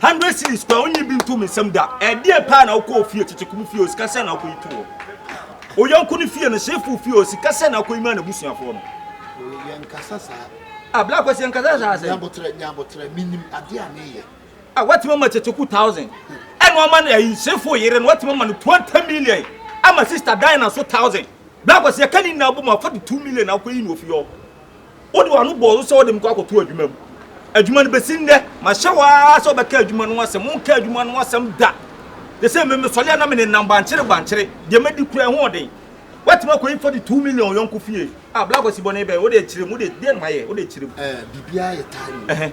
Hundred cedis koraa onnye bi nto me nsam da. Ɛdeɛn paa na wokɔɔ fie? Kyekyeko mu fie o, sika sɛn na wokɔyi too hɔ? Wo yɔnko no fie no, Shefo fie o, sika sɛn na wokɔyi maa n'abusuafoɔ no? Mary, Yɛnkasa saa. Ah, Black Kwasi, yɛnkasa saa sɛn? Nyaboterɛ, Nyaboterɛ, menim adeɛ a meyɛ. Ah, woatumi ama Kyekyeko thousand, ɛna woama no ayi, Shefo yere no, woatumi ama no twenty million, ama Sister Dinah nso thousand. Black Kwasi, yɛka ne nyinaa bom a, fa de two million na wokɔyi no wɔ fie hɔ. Wode w'ano bɔɔ so sɛ wode me kɔ akɔto adwuma mu. Adwuma no bɛsi nnɛ, mahyɛ wo ara sɛ wobɛka adwuma no asɛm. Wonka adwuma no asɛm da. Te sɛ me, mesɔre a na menenam bankyere bankyere. Deɛ madi kura ɛho ɔden. Woatumi akɔyi 42 million wo yɔnko fie. Ah, Blacko si bɔne bɛn? Wode akyirem, wode, deɛn na mayɛ? Wode akyirem. Eh, biribiara yɛ timing. Ɛhɛ.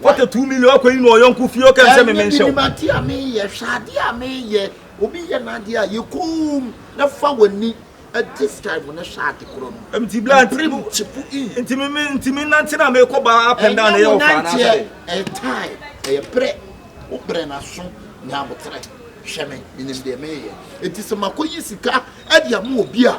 What a two million akɔ yi na ɔyɔnko fie ɔka nsɛ me me nhyɛ wo. Ɛnyɛ minim adeɛ a meyɛ hwɛ adeɛ a meyɛ obi yɛ n'adeɛ a yɛ koom na fa w'ani this time no hwɛ ade korɔ no. Nti bla nti mu nti me me nti me nante na me kɔ ba up and down ɛyɛ ɔfa na sɛ. Ɛyɛ time ɛyɛ brɛ wo brɛ na so nya abotrɛ hwɛ me minim deɛ meyɛ eti sɛ makɔ yi sika ɛde ama obi a.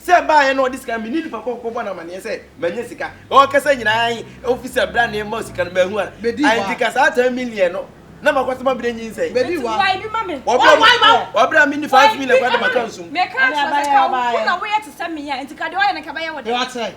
Sɛ ɛbaeɛ na ɔde sika no, me ne nipa koro kɔbɔ no amaneɛ sɛ mannya sika. Na ɔkasa nyinaa ahe officer bra na ɛmma sika no mahu a. Anti ka saa ten million no na makɔ so mabrɛ nyinsɛn. Nti boa ebi ma me. Wɔbrɛ a menni five million koraa de maka nsum. Meka akyerɛ wo sɛ ka wo na woyɛ te sɛ me a nti ka deɛ ɔyɛ no nka ɛbɛyɛ wo dɛ.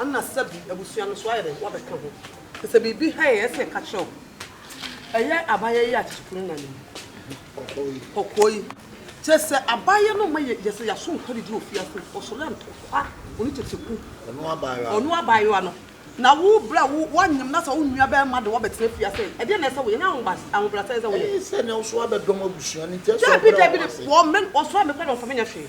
Ana sɛbi abusua no so ayɛ dɛn wabɛka ho? Te sɛ biribi hann a ɛsɛ yɛka kyerɛ wo. Ɛyɛ abayɛ yi a kyekye funu na nim. Kɔkɔɔ yi. Kyerɛ sɛ abayɛ no ma yɛ sɛ yɛaso nkwa didi ofie ase nti ɔsɔre ntɔkwa ɔne tete ku. Ɔno abayewa no. Na wo berɛ a wo wanyem na sɛ wo nua bɛɛma de wabɛtena fie ase ɛ? Ɛdeɛ na ɛsɛ woyɛ? Ɛnyɛ ahobrasɛɛ ɛsɛ woyɛ? Ɛyɛ sɛ na wo so wabɛdɔm abusua no nti ɛsɛ ɔbrɛ wɔn ase. Dabi dabi dabi wɔn mɛ ɔsoa me kora na ɔmfa me nyɛ hwee.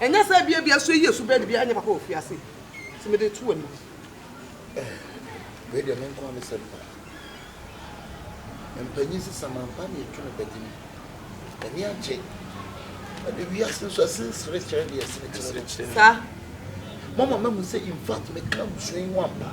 Ɛnyɛ sɛ ebia bi aso yie so bɛn de bi anyɛ papa wɔ fiase nti mede to w'anim. Wei deɛ me nko a me sɛm pa. Mpanyin sesa mampa ne ɛtwe no bɛgye no. Ani agye. Ɛde wiase nso ɛsen sere kyerɛ deɛ ɛsene kyerɛ no. Saa. Mama mahu sɛ in fact meka abusua yi ho ampa.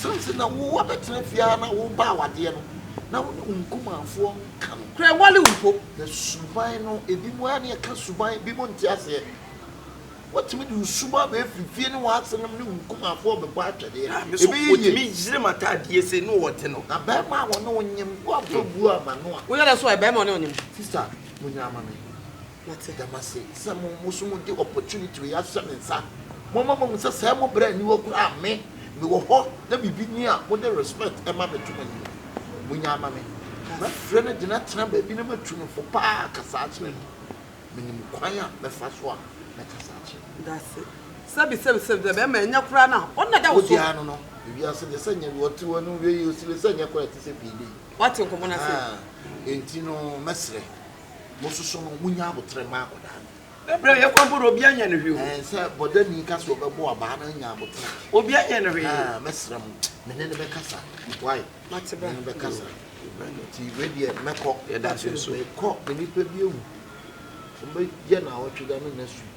Sɛ nti na wo abɛtena fie ara na wo ba awadeɛ no, na wo ne wo nkumanfoɔ nka no. Kura wale mpo. Na suban no, ebi mo ara ne ɛka suban, ebi mo nte aseɛ. Wotumi de wo suban bɛ firi fie ne w'asenom ne wo nkumanfoɔ bɛbɔ atwɛdeɛ. Ah, me so, Ɛbɛyɛ yie. otumi yere m'ataadeɛ sei ne ɔte no. Na bɛɛma a wɔne wo nyem, woamfa buo amma no a. Wo yere nso ɛ, bɛɛma ɔne wo nyem. Sister, monyina mma me. Mete dɛm ase sɛ mo mo so mo de opportunity wei ahyɛ me nsa. Mo ma mahu sɛ sɛɛ mo brɛ nni hɔ koraa me me wɔ hɔ na biribi ni a mo de respect ma me to mo anim. Mo nya ama me. Mɛfrɛ no de no atena baabi na matu no fo paa akasa akyerɛ no. Me nim kwan a mɛfa so a mɛkasa akyerɛ no. Dase. Sɛbi sɛbi sɛbi dɛ bɛɛma ɛnyɛ koraa na ɔno na ɛda wo so. Wodeɛ ano no ewiase deɛ sɛ nyɛ deɛ ɔte hɔ ɛno nwie yɛ osile sɛ nyɛ koraa ɛte sɛ payday. Wate nkɔmɔ no ase. Ahaa enti no mɛsrɛ. mo soso no mo nya aboterɛ ma akɔdaa no. Ɛbrɛ yɛ kwan pɔdɔ obi anyɛ no hwee o. Ɛɛ sɛ bɔdani ka sɛ ɔbɛbɔ abaa na anya aboterɛ. Obi anyɛ no hwee. Ɛɛ mɛsrɛ mo me ne no bɛkasa wai me ne no bɛkasa nti wei deɛ mɛkɔ. Yɛda so nso. Mekɔ me nipa bi awu ɔbɛyɛ na awɔtwe da no next week.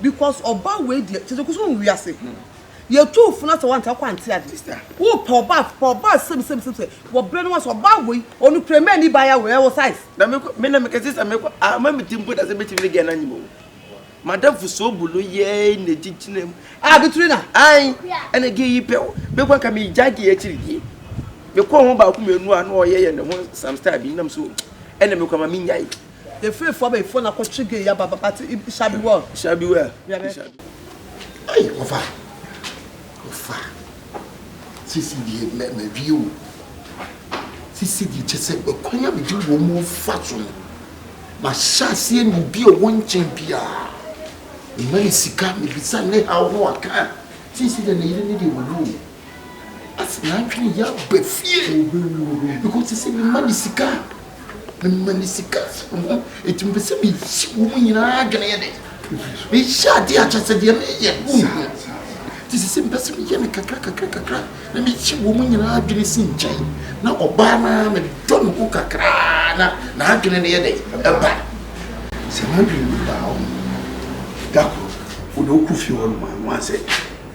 Because ɔbaa wei deɛ kyɛ sɛ kusu mu wiase yɛ tu funu asɛ wante akɔ ante ade wo pɛ ɔbaa pɛ ɔbaa sɛbi sɛbi sɛbi sɛ wɔ brɛ no asɛ ɔbaa wei ɔno kura mɛ ni ba ya wɔ ɛwɔ size. na me kɔ me na me kɛse sɛ me kɔ a ma me ti mpo da sɛ me ti ne gɛn na nyim o madam fo so bu no yɛ na gyi gyina mu a bi turi na ai ɛna gɛ yi pɛ o me kɔ ka me gya gɛ akyiri die me kɔ ho baako mmienu a na ɔyɛ yɛ ne ho some style bi nam so ɛna me kɔ ma me nya yi Yɛ firi fɔ bɛ fɔ na kɔ twi ge ya ba ba ti i sha bi wɔ. Sha bi wɔ. Bia bɛ. Ai ɔfa ɔfa sisi die mɛ mɛ wie o sisi die kyɛ sɛ ɛkwan a mede wɔn mu fa so no ma hyɛ aseɛ ne obi a ɔwɔ nkyɛn biara mema ne sika mebisa ne haw ho aka sisi deɛ ne yere ne deɛ wɔ no o. Afei n'adwene yɛ aba fie because te sɛ mema ne sika mema ne sika ɛti mepɛ sɛ mesi wɔ mu nyinaa adwene yɛ dɛ mehyɛ ade akyɛ sɛ deɛ meyɛ wohu te sɛ sɛ mepɛ sɛ meyɛ no kakra kakra kakra na mehyɛ wɔ mu nyinaa adwene si nkyɛn na ɔbaa no a medɔ ne ho kakraa na n'adwene no yɛ dɛ ɛba sɛ n'adwene no baa hɔ da koro wode wokɔ fie hɔ no ma no asɛ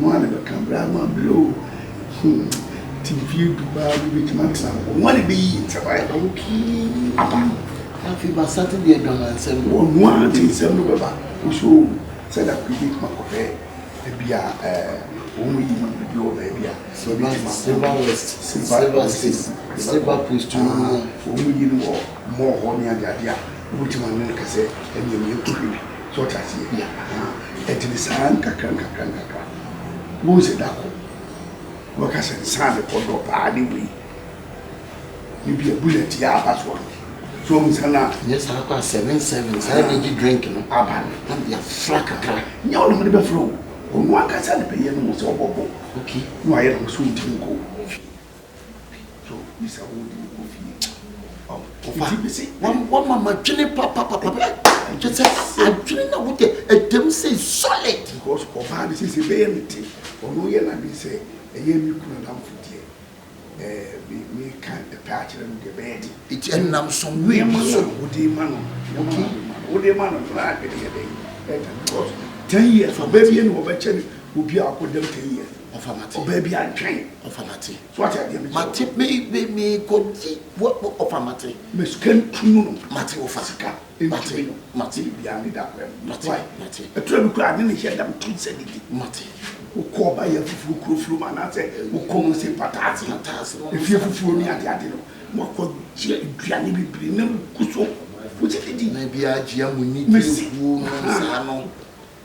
Wɔn a na bɛka bere ano abere o. Hmm, te mfie du baa bi betumi atena hɔ. Wɔn a na beyi nsɛm ayɛ na wotumi aba. Afei basa te deɛ adwamansɛm. Wɔn a te nsɛm no bɛba. Woso o sɛ da koro betumi akɔhwɛ ebi a ɛɛ wɔn mu yi man bi wɔ baabi a. Silver Silver West, Silver State, Silver Post mu no. Wɔn mu yi no wɔ mall hɔ ne adeade a wobetumi ane no kasa ɛnea meyɛ kɔhwɛ bi. So ɔte aseɛ? Yeah, ahaa, ɛte no saa nkakra nkakra nkakra. Wohu sɛ da koro, wobɛka sɛ nsa a mekɔ dɔ paa ne wei. Ne bia bullet yɛ aba soɔ no. So wohu sɛ na. Nyɛ saa kɔ a seven seven, saa energy drink no. Aba no. Na mede afra kakra. Nyɛ wo na mede bɛfra o, ɔno ankasa na bɛyɛ no ho sɛ ɔbɔbɔ. Okay. Na wayɛ ne ho sɛ ɔntumi nkɔ o. wama madwene papapapa kyɛ sɛ adwene na wode ɛdam sɛ solid because ɔbaa no sɛsɛ bɛyɛ me te ɔno yɛ nade sɛ ɛyɛ me kunu adamfo deɛ meka ɛpɛ akyerɛ no deɛ bɛyɛ de ɛti ɛnam som nneɛma so wode ma no wode ma no na adwene yɛ dɛn ɛka because ten years ɔbɛ bie na ɔbɛkyɛ no obi a akɔdam ten years Ɔfa mate. Ɔbaa bi antwɛn. Ɔfa mate. So wate adeɛ mi. Mate me me me kɔgye wɔ wɔ ɔfa mate. Me sika ntunu no. Mate ɔfa. Sika ntumi no. Mate. Biribi biara ne da akɔɛ mu. Mate mate. Ɛtura bi kura ne ne hyɛ dam tum sɛ ne di. Mate. Wokɔ ɔba yɛ fufuo kuro furu mu anaasɛ wokɔ mu se pataase. Pataase no. Efie fufuo ne ade ade no. Wakɔ gye aduane bebree na mu gu so. Wogye didi. Na ebi agyia mu ni. Mesi. Wuo no saa no.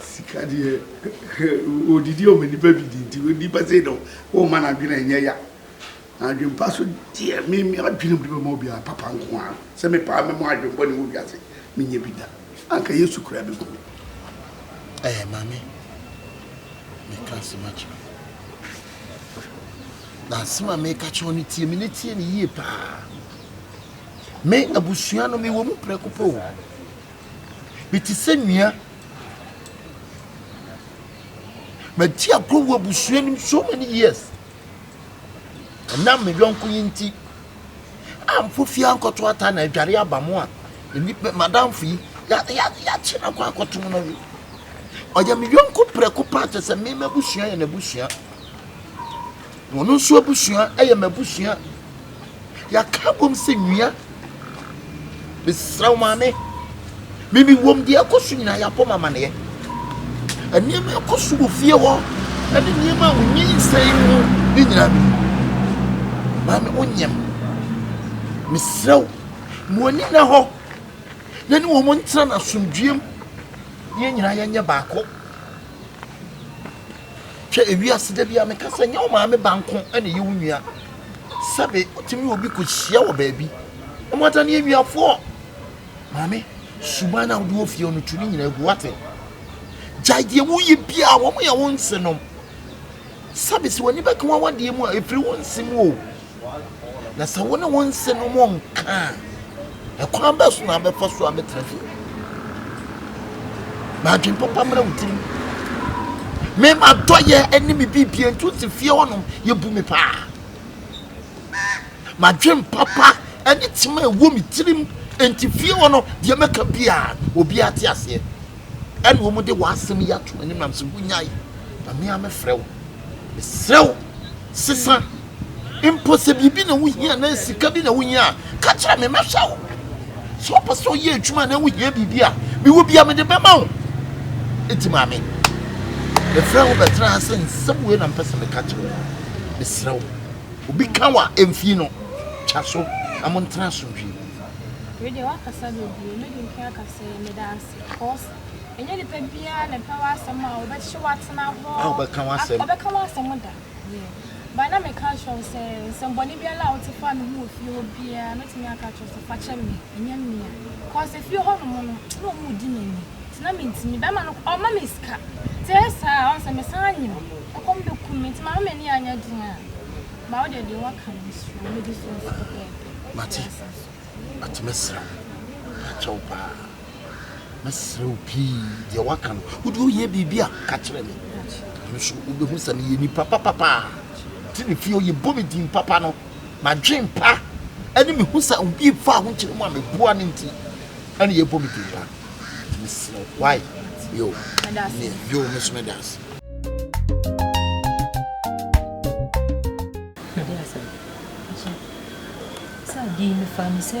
Sika deɛ ɔdidi ɔma nipa didi nti onipa sei deɛ womma n'adwene nyɛ ya na adwene pa so deɛ me me adwene mede bɛma obiara papa nko ara sɛ me paa mɛmɔ adwene bɔne wɔ wiase menyɛ bi da anka Yesu koraa bɛku me ɛɛ maame meka asɛm akyerɛ na asɛm a meka kyerɛ no tie me ne tie ne yie paa me abusua no mewɔ mu prɛko pɛ o Mete sɛ nua. Madi agorɔ wɔ abusua no mu so many years. Ɛnam me yɔnko yi nti, ampo fie ankɔto ata na adware aba mo a, nnipa madamfo yi yɛakye no akɔ akɔtom no we. Ɔyɛ me yɔnko prɛko paa kyɛ sɛ me m'abusua yɛ n'abusua. Wɔn nso abusua yɛ m'abusua. Yɛaka abom sɛ nua. Mesrɛ wo maame, menim wom deɛ ɛkɔ so nyinaa yɛabɔ me amaneɛ. Nneɛma ɛkɔ so wɔ fie hɔ ne nneɛma a wonyinsɛn mu ne nyinaa menim. Maame wonyam. Mesrɛ wo, ma w'ani nna hɔ na ne wɔn ntena no asomdwoeɛ mu na yɛn nyinaa yɛnyɛ baako. Hwɛ, ewiase da biara meka sɛ nyɛ wo maame ba nko na ɛyɛ wo nua. Sɛbe wotumi ne obi kɔhyia wɔ baabi na moada ne anuafoɔ. Maame, suban no a wode wɔ fie no tu ne nyinaa gu wate. Gyae deɛ woyɛ biara, wɔn yɛ wo nsenom. Sɛbe sɛ w'ani bɛka w'awadeɛ mu a, ɛfiri wo nse mu o. Na sɛ wo ne wɔn nsi no mu nka a, ɛkwan bɛn so na abɛfa so abɛtena fie? Ma adwene papa mmra wo tirim. Me ma dɔ yɛ ɛne me bibie ntu si fie hɔnom yɛbu me paa. Ma adwene papa ɛne tema ɛwɔ me tirim nti fie hɔ no deɛ mɛka biara no obi ate aseɛ. Ɛne wɔn de wɔn asɛm yi ato m'anim nam sɛ wonyae. Ma me a mefrɛ wo, mesrɛ wo. Sesa. Mpo sɛ biribi na wuhia anaa sika bi na wuhia a, ka kyerɛ me, mɛhwɛ wo. Sɛ wopɛ sɛ woyɛ adwuma anaa wuhia biribi a, mewɔ bi a mede bɛma wo. Enti maame, mefrɛɛ wo bɛtena ha sɛ nsɛm wei na mepɛ sɛ meka kyerɛ wo. Mesrɛ wo, obi ka wo a, mfi no. Twa so na montena asomdwoe mu. Wei deɛ woakasa bebree, mɛdi nkan aka sɛ meda ase cos Ɛnyɛ nipa biara na ɛpɛ w'asɛm a ɔbɛkye wo atena hɔ. A ɔbɛka w'asɛm. Ɔbɛka w'asɛm da. Yeah. But na meka akyerɛ wo sɛ nsɛmbɔne biara a wote faa me ho wɔ fie hɔ biara, mɛtumi aka akyerɛ wo sɛ fa kyɛ me, ɛnyɛ me a. Cause efie hɔnom no, na wɔn redi m'ani. Nti na mentumi. Bɛrima no, ɔmma me sika. Nti ɛyɛ saa a, ɔhu sɛ mesan anyem. Ɛkɔm bɛku me. Nti mama m'ani anyɛ den a. But wo deɛ, deɛ woaka no, mesrɛ wo, mɛdi so nso pɛpɛɛpɛ. Mate. Mate, mɛsrɛ wo. Mɛka akyerɛ wo paa. Mɛsrɛ wo pii, deɛ woaka no, wo deɛ wohia biribi a, ka kyerɛ me. Ɛno nso wobɛhu sɛ meyɛ nipa papa paa. Nti ne fie yɛbɔ me din papa no, m'adwen pa ne me hu sɛ obi mfa ho nkyerɛ mu a meboa no nti ɛne yɛbɔ me din pa. Nti mesrɛ wo, why? Yo, yo, me nso meda ase. Sɛ adi yi mefaa no sɛ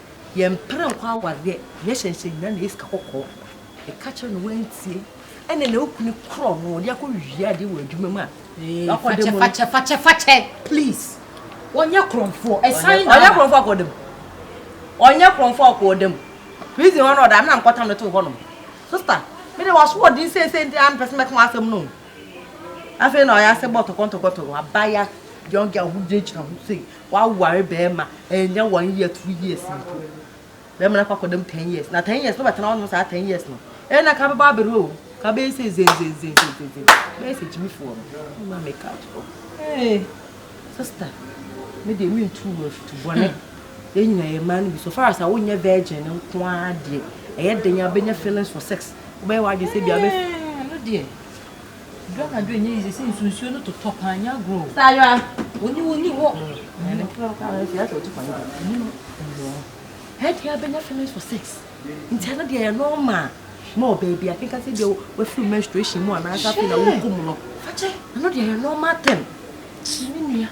Yɛmpere nkɔ awareɛ yɛhyɛ nhyɛ nyina na yɛ sika kɔkɔɔ ɛka kyerɛ no wantie ɛne na okunu korɔ no ɔde akɔ wie adeɛ wɔ adwuma mu a wakɔ dɛm no fakyɛ fakyɛ fakyɛ please ɔnyɛ korɔmfoɔ ɛsan na ɔnyɛ korɔmfoɔ akɔ dɛm ɔnyɛ korɔmfoɔ akɔ dɛm prison hɔ no ɔda amena mkɔtam no to hɔ nom sister me de waso ɔden seesei nti ampɛ sɛ mɛka asɛm no afei na ɔyɛ ase bɔ tɔkɔntɔkɔntɔkɔ abaya young girl ho gyinagyina ho sei W'aware bɛɛma ɛnyɛ one year two years mpo bɛɛma no akɔ akɔ dɛm ten years na ten years no bɛtena ɔnom saa ten years no ɛyɛ na ka bɛbɔ abere o ka bɛyɛ sɛ zenzenzenzenzen bɛyɛ sɛ gyimifoɔ no ma me ka to ee sista me deɛ me ntu wɔ afutu bɔne yɛn nyina yɛ mmaa no bi so far as a wonyɛ virgin no nko ara deɛ ɛyɛ den a bɛnya feelings for sex wobɛyɛ w'adwene sɛ bia bɛ no deɛ Duru anadwo ɛnyɛ easy sɛ nsu nsuo no totɔ paa nyɛ agorɔ o. Saa ara. Onyi wo nni hɔ. Ɛyɛ nokorɛ wo kaa nso yɛ sɛ wotu kwan bi. Ɛnyɛ no. Ɛnyɛ. Ɛyɛ deɛ abɛnya feelings for sex. Nti ɛno deɛ ɛyɛ normal. Ma wɔ baabi a kenka sɛ bia wafiri menstruation mu anaasɛ afei na wokɔ mu no. Fakyɛ. Ɛno deɛ ɛyɛ normal thing. Kyi me nua.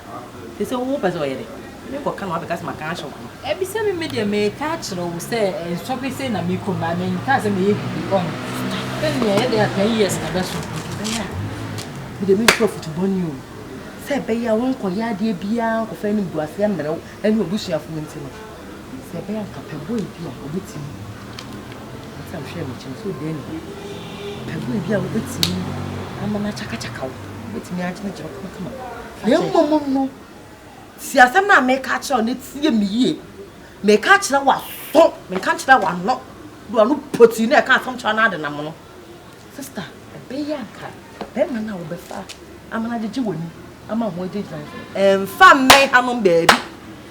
Te sɛ wo pɛ sɛ ɔyɛ dɛ. Me kɔ ka na wabɛka sɛ maka akyerɛ wo no. Bisa me me deɛ me ka akyerɛ wo sɛ nsɔhwɛ sei na me kɔ mu a me nka sɛ me yɛ bibi ɔn hwɛ nea ɛyɛ dɛ a ten years na ɛbɛso. Nti bɛyɛ a me deɛ me ntu afutu bɔne o sɛ ɛbɛyɛ a wo nkɔ yɛ adeɛ biara nkɔ fa animguaseɛ mmrɛ wo ɛne w'abusuafoɔ nti no. Sɛ ɛbɛyɛ anka pɛ bɔ ebi a obetumi Ɔsan hwɛɛ me kyɛn so dɛn ni Pɛ bɔ ebi a obetumi ama no akyakakyaka wo Obetumi agyinagyina kamakama Na mmom no si asɛm no a meka akyerɛ wo no tie me yie Meka akyerɛ w'aso, menka nkyerɛ w'ano Do ano pɔtii no a ɛka asɛm kyerɛ no adenam no Sister, ɛbɛyɛ a nka bɛrima no a wobɛfa ama no agyegye w'ani ama ho agyinagyina no, ɛmfa mmɛn hanom baabi.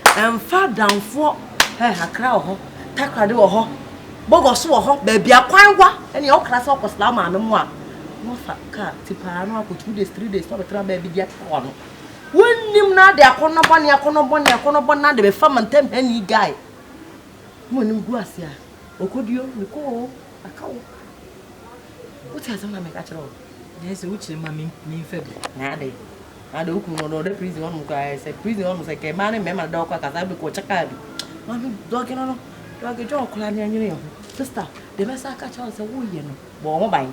Ɛmfa adamfoɔ hɛ Accra wɔ hɔ, Takoradi wɔ hɔ, Bɔgɔso wɔ hɔ, baabi akwan wa ne yɛn ɔkra sɛ ɔkɔsra maame mu a, na wafa kaa ti paa na wakɔ two days, three days na ɔbɛtra baabi de atra hɔ no. Wonnim na ade akɔnnɔ bɔne, akɔnnɔ bɔne, akɔnnɔ bɔne na ade bɛfa mantam ha ni guy. Mo anim gu ase a, ɔkɔduo, mekɔɔ, Maka wo. Wote asɛm na meka kyerɛ wo. Ɛyɛ sɛ wokyerɛ ma memfa bi. Na adɛn? Na adɛn wo kunu no ɔdɔ ɔdɛ prison hɔnom koraa ɛyɛ sɛ prison hɔnom sɛ kɛ mmaa ne mmarima da ɔkɔ akasa bɛkɔ ɔkyɛ kaa bi. Maame dɔge no no dɔge dwa ɔkora ne ɛnwene yɛ ho. Sista, deɛ mɛsan aka akyerɛ wo sɛ woyɛ no bɔ wo ho ban.